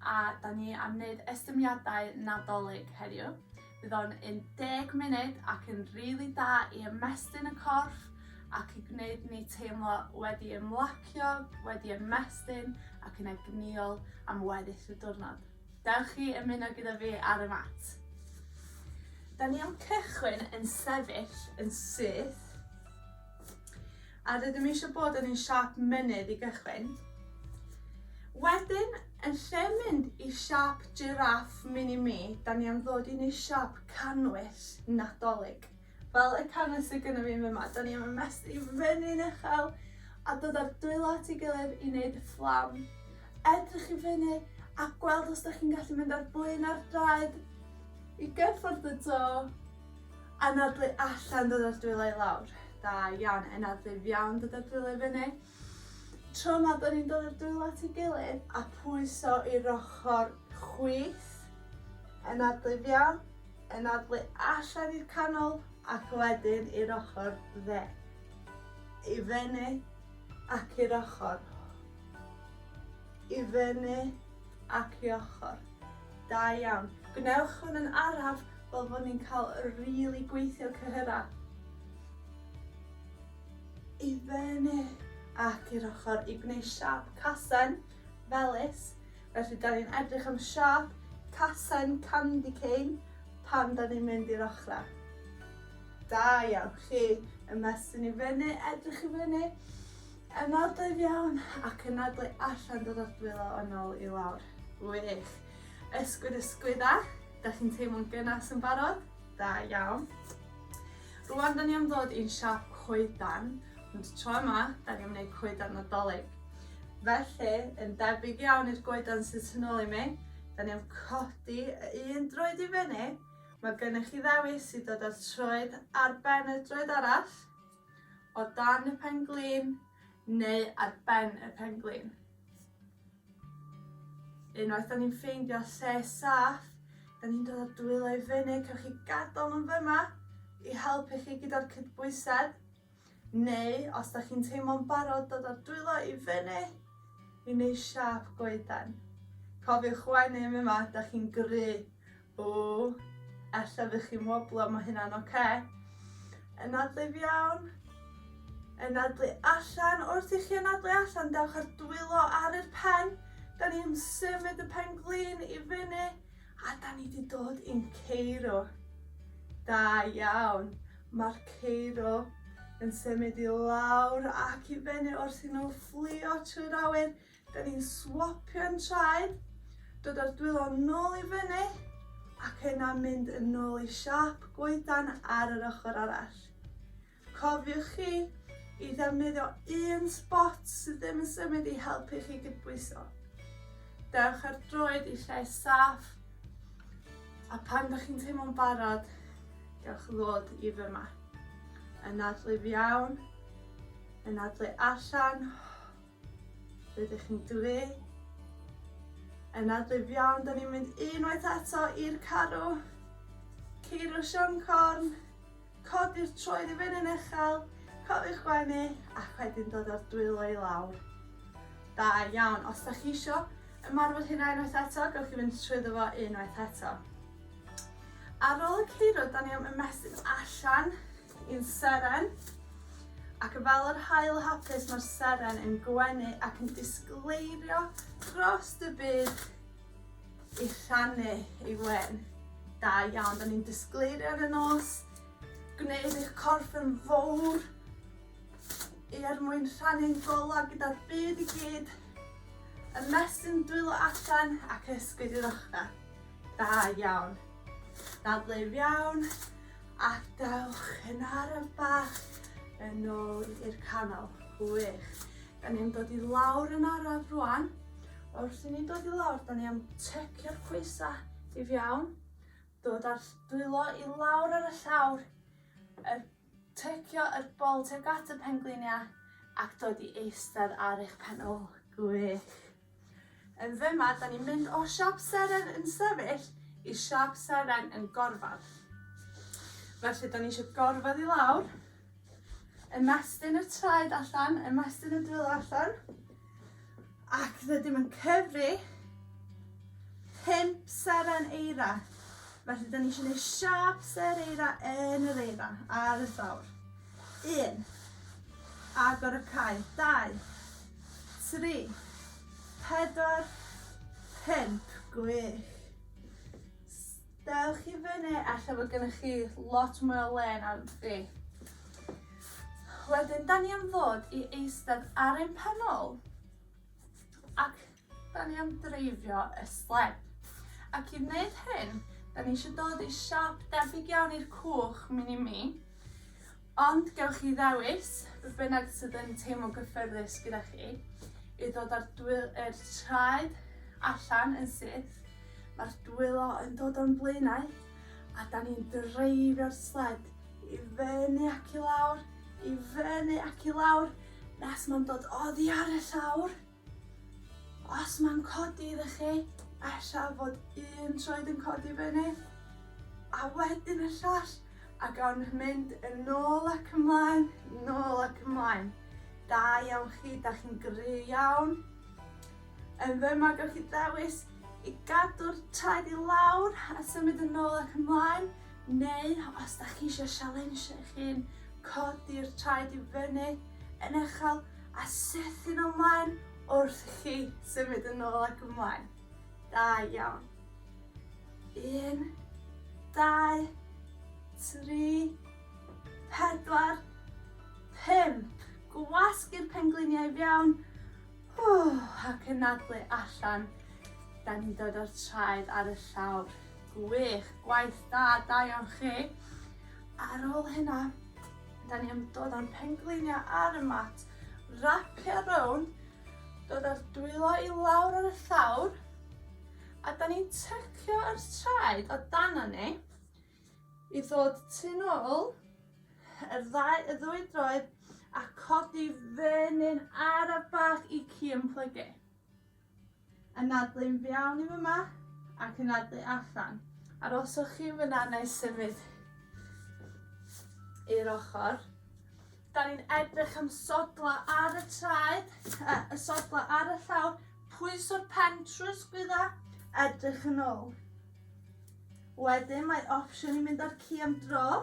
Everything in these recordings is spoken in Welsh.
a da ni am wneud estyniadau Nadolig heddiw. Bydd o'n 10 munud ac yn rili really da i ymestyn y corff ac i gwneud ni teimlo wedi ymlacio, wedi ymestyn ac yn egnïol am weddill y diwrnod. Dewch i ymuno gyda fi ar y mat. Da ni am cychwyn yn sefyll yn syth A rydym eisiau bod yn un siâp mynydd i gychwyn. Wedyn, yn lle mynd i siâp jiráff mini mi, da ni am ddod i ni siâp canwyll Nadolig. Fel y canwyll sydd gyda fi yma, da ni am ymestyn i fyny'n uchel a dod â'r dwylo at ei gilydd i wneud y fflam. Edrych i fyny a gweld os da chi'n gallu mynd ar blyn ar draed i gyffwrdd y do. Anadlu allan, dod â'r dwylo i lawr. Da iawn. Anadlu fewn, dod â'r dwylo i fyny. Tro 'ma, 'dan ni'n dod â'r dwylo at 'i gilydd a pwyso i'r ochor chwith. Anadlu fewn, anadlu allan i'r canol, ac wedyn i'r ochor dde. I fyny, ac i'r ochor. I fyny, ac i ochr. Da iawn. Gwnewch hwn yn araf fel fod ni'n cael y rili gweithio cyhyrau. I fyny ac i'r ochr i gwneud siâp casen felys. Felly da ni'n edrych am siâp casen candy cane pan da ni'n mynd i'r ochrau. Da iawn chi. Ymestyn i fyny, edrych i fyny. Yna'r doedd iawn, ac yna ble allan dod â'r dwylo yn ôl i lawr. Wych! Ysgwyd ysgwydda, 'dach chi'n teimlo'n gynas yn barod? Da iawn. Rŵan 'dan ni am ddod i'n siâp coedan, ond y tro yma 'dan ni am wneud coedan Nadolig. Felly, yn debyg iawn i'r goedan sydd tu nôl i mi, 'dan ni am codi y un droed i fyny, mae gennych chi ddewis i dod â'r troed ar ben y droed arall, o dan y pen-glin neu ar ben y pen-glin. Unwaith da ni'n ffeindio lle saff, da ni'n dod o'r dwylo i fyny, cewch chi gadael nhw'n fyma i helpu chi gyda'r cydbwysedd. Neu, os da chi'n teimlo'n barod dod o'r dwylo i fyny, i wneud siap goeden. Cofiwch wenu yma, da chi'n gry O, ella fy chi'n woblo, mae hynna'n oce. Okay. Ynadlu fiawn. Ynadlu allan. Wrth i chi ynadlu allan, dewch ar dwylo ar yr pen. Da ni'n symud y pen glin i fyny. A da ni wedi dod i'n ceiro. Da iawn. Mae'r ceiro yn symud i lawr ac i fyny wrth i nhw fflio trwy'r awyr. Da ni'n swopio'n traed, dod â'r dwylo nôl i fyny ac yna mynd yn ôl i siâp goedan ar yr ochr arall. Cofiwch chi i ddefnyddio un sbot sydd ddim yn symud i helpu chi gydbwyso. Dewch ar droed i lle saff a pan da chi'n teimlo'n barod, dewch ddod i fy yma. Yn adlu iawn, yn adlu allan, Rydych chi'n greu yn adlib iawn. Da ni'n mynd unwaith eto i'r carw. Ceirw Sian Corn. Codi'r troed i fyny'n uchel. Cofiwch gwenu ac wedyn dod o'r dwylo i lawr. Da iawn. Os da chi isio ymarfer hynna unwaith eto, gawch chi fynd trwy ddo unwaith eto. Ar ôl y ceirw, da ni am ymestyn allan Yn seren, ac yn fel yr haul hapus mae'r seren yn gwenu ac yn disgleirio dros y byd i rhannu ei wen. Da iawn, da ni'n disgleirio ar y nos, gwneud eich corff yn fawr i er mwyn rhannu'n gola gyda'r byd i gyd, y mesyn dwylo allan ac ysgwyd i'r ochrau. Da iawn. Dadleu iawn, Ac dewch yn araf bach yn ôl i'r canol. Gwych. Da ni'n dod i lawr yn araf rwan. Wrth i ni dod i lawr, da ni am tecio'r coesa i fiawn. Dod ar dwylo i lawr ar y llawr. Er, tecio yr bol tuag at y penglinia ac dod i eistedd ar eich pen ôl. Gwych. Yn fema da ni'n mynd o siop seren yn sefyll i siop seren yn gorfadd. Felly da ni isio gorfadd i lawr, ymestyn y traed allan, ymestyn y dwylo allan, ac rydym yn cyfri pump seren eira. Felly, da ni eisiau gwneud siap ser eira yn yr eira ar y llawr. Un, agor y cae, dau, Tri, pedwar, pump, gwych. S- dewch i fyny, elle fod gennych chi lot mwy o le na fi. Wedyn, 'dan ni am ddod i eistedd ar ein pen ôl, ac 'da ni am dreifio y sled. Ac i wneud hyn, 'da ni isio dod i siop debyg iawn i'r cwch mini me, ond gewch chi ddewis be' bynnag sydd yn teimlo'n gyffyrddus gyda chi, i ddod â'r dwy- yr traed allan yn syth, ma'r dwylo yn dod o'n blaenau, a 'da ni'n dreifio'r sled i fyny ac i lawr, i fyny ac i lawr, nes ma'n dod oddi ar y llawr. Os mae'n codi iddo chi, ella fod un troed yn codi fyny, a wedyn y llall, a gawn mynd yn ôl ac ymlaen, yn ôl ac ymlaen. Da iawn chi, da chi'n gry iawn. Yn fyma, gawch chi ddewis i gadw'r traed i lawr a symud yn ôl ac ymlaen, neu os da chi eisiau sialensio eich hun, codi'r traed i fyny yn uchel, A sethyn ymlaen wrth i chi symud yn ôl ac ymlaen. Da iawn. Un, dau, tri, pedwar, pump. Gwasgu'r pengliniau i fewn. Ww, ac yn nadlu allan. Da ni'n dod o'r traed ar y llawr. Gwych, gwaith da, da iawn chi. Ar ôl hynna, Da ni am dod â'n pengliniau ar y mat, rapio rownd, dod â'r dwylo i lawr ar y llawr, a da ni'n tycio yr traed o dana ni i ddod tu nôl yr ddau, y ddwy droed a codi fy nyn araf bach i ci yn plygu. Anadlu yn fiawn i fyma, ac anadlu allan. Aroswch chi yn fyna neu symud i'r ochor. Da ni'n edrych am sodla ar y traed, uh, y sodla ar y llawr, pwyso'r pen trwy'r sgwydda, edrych yn ôl. Wedyn mae opsiwn i mynd â'r ci am dro,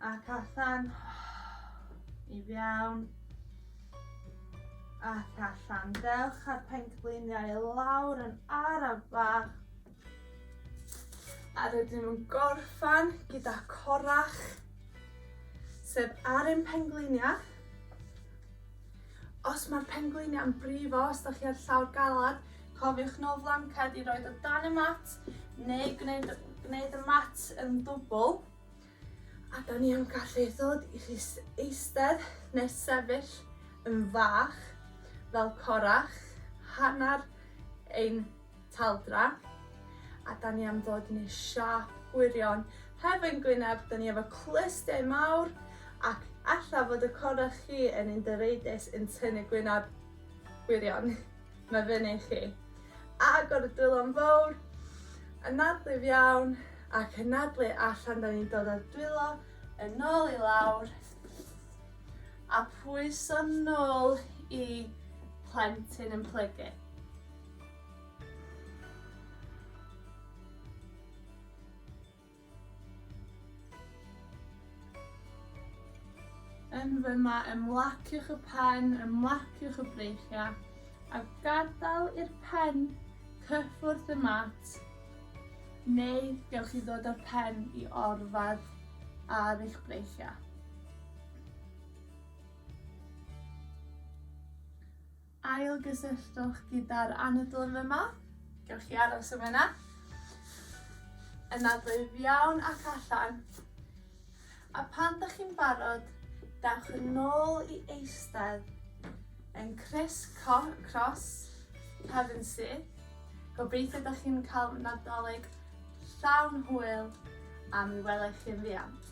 Ac allan. I fiawn. Ac allan. Dewch a'r pengliniau i lawr yn araf bach. A rydyn nhw'n gorffan gyda corach, sef ar ein pengliniau. Os mae'r pengliniau'n brifo, os da chi ar llawr galad, cofiwch nôl flanced i roi o dan y mat neu gwneud, gwneud y mat yn dwbl. A da ni am gallu ddod i chi eistedd neu sefyll yn fach fel corach, hanner ein taldra. A da ni am ddod yn ei siâp gwirion. Heb ein gwyneb, da ni efo clustiau mawr ac alla fod y corach chi yn un dyreidus yn tynnu gwyneb gwirion. Mae fyny i chi. Agor y dwylo'n fawr, anadlu'n iawn ac anadlu allan. Da ni'n dod o'r dwylo yn ôl i lawr a pwyso'n nôl i plentyn yn plygu. Yn fyma, ymlaciwch y pen, ymlaciwch y breichiau, a gadael i'r pen cyffwrdd y mat, neu gewch chi ddod â'r pen i orfadd ar eich breichiau. Ailgysylltwch gyda'r anadl yma. Gewch chi aros am yna. Yna braidd iawn ac allan. A pan dych chi'n barod, dewch yn ôl i eistedd yn criss cross, cefn syth. Gobeithio dych chi'n cael Nadolig llawn hwyl a mi welai chi yn fuan.